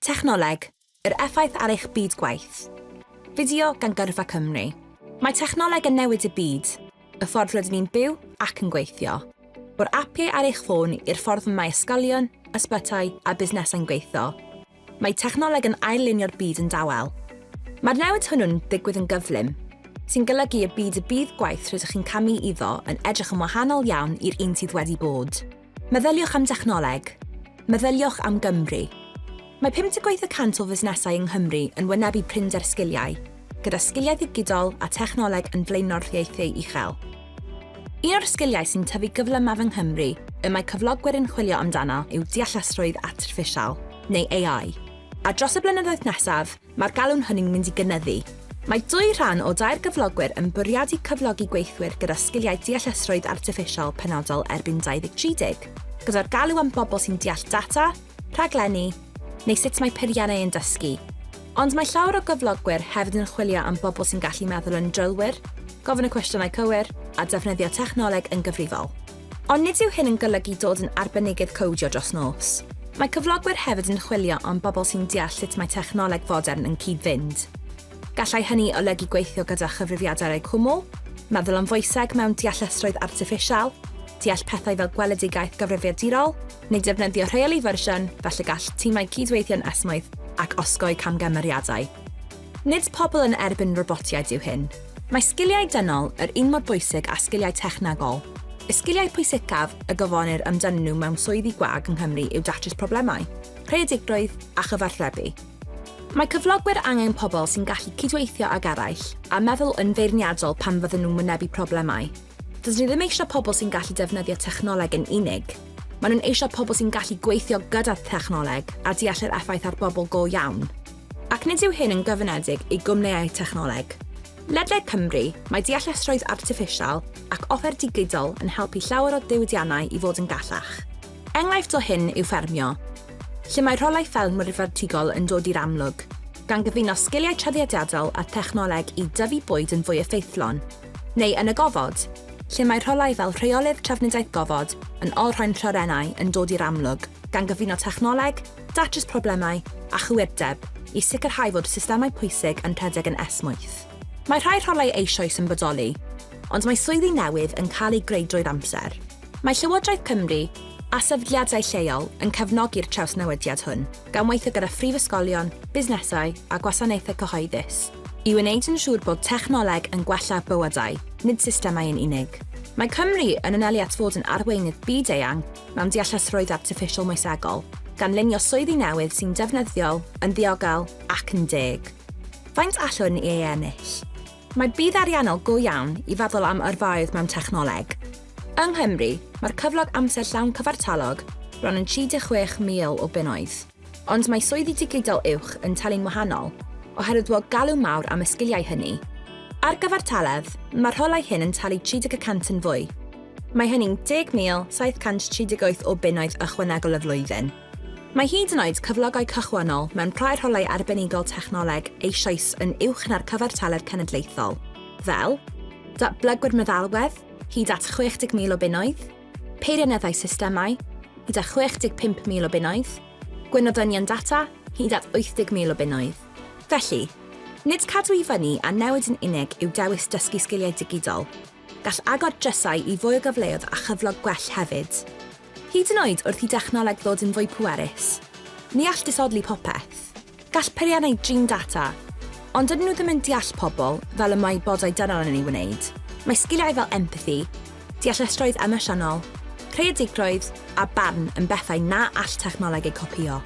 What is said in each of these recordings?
Technoleg, yr effaith ar eich byd gwaith. Fideo gan Gyrfa Cymru. Mae technoleg yn newid y byd, y ffordd rydyn ni'n byw ac yn gweithio. O'r apiau ar eich ffôn i'r ffordd y mae ysgolion, ysbytai a busnesau'n gweithio, mae technoleg yn ail-lunio'r byd yn dawel. Mae'r newid hwnnw'n digwydd yn gyflym, sy'n golygu y bydd y byd gwaith rydych chi'n camu iddo yn edrych yn wahanol iawn i'r un sydd wedi bod. Meddyliwch am dechnoleg. Meddyliwch am Gymru. Mae 58 y cant o fusnesau yng Nghymru yn wynebu prinder sgiliau, gyda sgiliau ddigidol a technoleg yn flaenoriaethau uchel. Un o'r sgiliau sy'n tyfu gyflymaf yng Nghymru y mae cyflogwyr yn chwilio amdano yw deallusrwydd artiffisial, neu AI, a dros y blynyddoedd nesaf, Mae'r galw'n hynny'n mynd i gynyddu. Mae dwy rhan o dair gyflogwyr yn bwriadu cyflogi gweithwyr gyda sgiliau deallusrwydd artiffisial penodol erbyn 2030, gyda'r galw am bobl sy'n deall data, rhaglenni, neu sut mae peiriannau yn dysgu. Ond mae llawer o gyflogwyr hefyd yn chwilio am bobl sy'n gallu meddwl yn drylwyr, gofyn y cwestiynau cywir, a defnyddio technoleg yn gyfrifol. Ond nid yw hyn yn golygu dod yn arbenigydd cowdio dros nos. Mae cyflogwyr hefyd yn chwilio am bobl sy'n deall sut mae technoleg fodern yn cyd-fynd. Gallai hynny olygu gweithio gyda chyfrifiadur eu cwmwl, meddwl am foeseg mewn deallusrwydd artiffisial, deall pethau fel gweledigaeth gyfrifiadurol, neu defnyddio rheoli fersiwn, felly gall timau cyd-weithio'n esmwyth ac osgoi camgymeriadau. Nid pobl yn erbyn robotiaid yw hyn. Mae sgiliau dynol yr un mor bwysig â sgiliau technegol. Y sgiliau pwysicaf y gofynnir amdanyn nhw mewn swyddi gwag yng Nghymru yw datrys problemau, creadigrwydd a chyfathrebu. Mae cyflogwyr angen pobl sy'n gallu cydweithio ag eraill a meddwl yn feirniadol pan fydden nhw'n wynebu problemau. Dydyn ni ddim eisiau pobl sy'n gallu defnyddio technoleg yn unig. Maen nhw'n eisiau pobl sy'n gallu gweithio gyda thechnoleg a deall yr effaith ar bobl go iawn. Ac nid yw hyn yn gyfyngedig i gwmnïau technoleg. Ledled Cymru, mae deallusrwydd artiffisial ac offer digidol yn helpu llawer o ddiwydiannau i fod yn gallach. Enghraifft o hyn yw ffermio, lle mae rholau ffermwyr fertigol yn dod i'r amlwg, gan gyfuno sgiliau traddodiadol â thechnoleg i dyfu bwyd yn fwy effeithlon, neu yn y gofod, lle mae rholau fel rheolydd trafnidiaeth gofod yn olrhain lloerennau yn dod i'r amlwg, gan gyfuno technoleg, datrys problemau a chywirdeb i sicrhau fod systemau pwysig yn rhedeg yn esmwyth. Mae rhai rholau eisoes yn bodoli, ond mae swyddi newydd yn cael eu greu drwy'r amser. Mae Llywodraeth Cymru a sefydliadau lleol yn cefnogi'r trawsnewidiad hwn, gan weithio gyda phrifysgolion, busnesau a gwasanaethau cyhoeddus i wneud yn siŵr bod technoleg yn gwella bywydau, nid systemau yn unig. Mae Cymru yn anelu at fod yn arweinydd byd-eang mewn deallusrwydd artiffisial moesegol, gan lunio swyddi newydd sy'n defnyddiol, yn ddiogel ac yn deg. Faint allwn ni ei ennill? Mae budd ariannol go iawn i feddwl am yrfaoedd mewn technoleg. Yng Nghymru, mae'r cyflog amser llawn cyfartalog bron yn 36,000 o bunnoedd. Ond mae swyddi digidol uwch yn talu'n wahanol, oherwydd bod galw mawr am y sgiliau hynny. Ar gyfartaledd, mae'r rholau hyn yn talu 30 y cant yn fwy. Mae hynny'n 10,738 o bunnoedd ychwanegol y flwyddyn. Mae hyd yn oed cyflogau cychwynnol mewn rhai rholau arbenigol technoleg eisoes yn uwch na'r cyfartaledd cenedlaethol, fel, datblygwyr meddalwedd, hyd at 60,000 o bunnoedd, Peirianneddau systemau, hyd at 65,000 o bunnoedd, gweinyddynion data, hyd at 80,000 o bunnoedd. Felly, nid cadw i fyny a newid yn unig yw dewis dysgu sgiliau digidol, gall agor drysau i fwy o gyfleoedd a chyflog gwell hefyd. Hyd yn oed wrth i dechnoleg ddod yn fwy pwerus, ni all disodli popeth. Gall peiriannau drin data, ond dydyn nhw ddim yn deall pobl fel y mae bodau dynol yn ei wneud. Mae sgiliau fel empathi, deallusrwydd emosiynol, creadigrwydd a barn yn bethau na all technoleg eu copïo.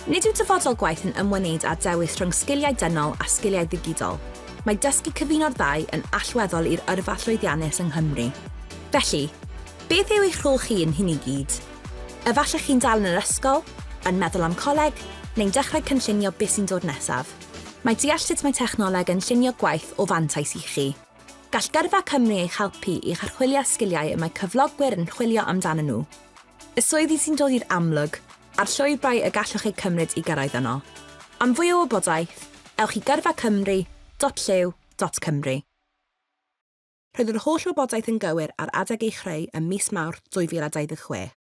Nid yw dyfodol gwaith yn ymwneud â dewis rhwng sgiliau dynol a sgiliau ddigidol, mae dysgu cyfuno'r ddau yn allweddol i'r yrfa llwyddiannus yng Nghymru. Felly, beth yw eich rhôl chi ein hyn i gyd? Efallai chi'n dal yn yr ysgol, yn meddwl am coleg, neu'n dechrau cynllunio beth sy'n dod nesaf. Mae deall sut mae technoleg yn llunio gwaith o fantais i chi. Gall Gyrfa Cymru eich helpu i'ch archwilio sgiliau y mae cyflogwyr yn chwilio amdanyn nhw, y swyddi sy'n dod i'r amlwg, a'r llwybrau y gallwch eu cymryd i gyrraedd yno. Am fwy o wybodaeth, ewch i gyrfacymru.llyw.cymru. Roedd yr holl wybodaeth yn gywir ar adeg ei chreu ym mis Mawrth 2026.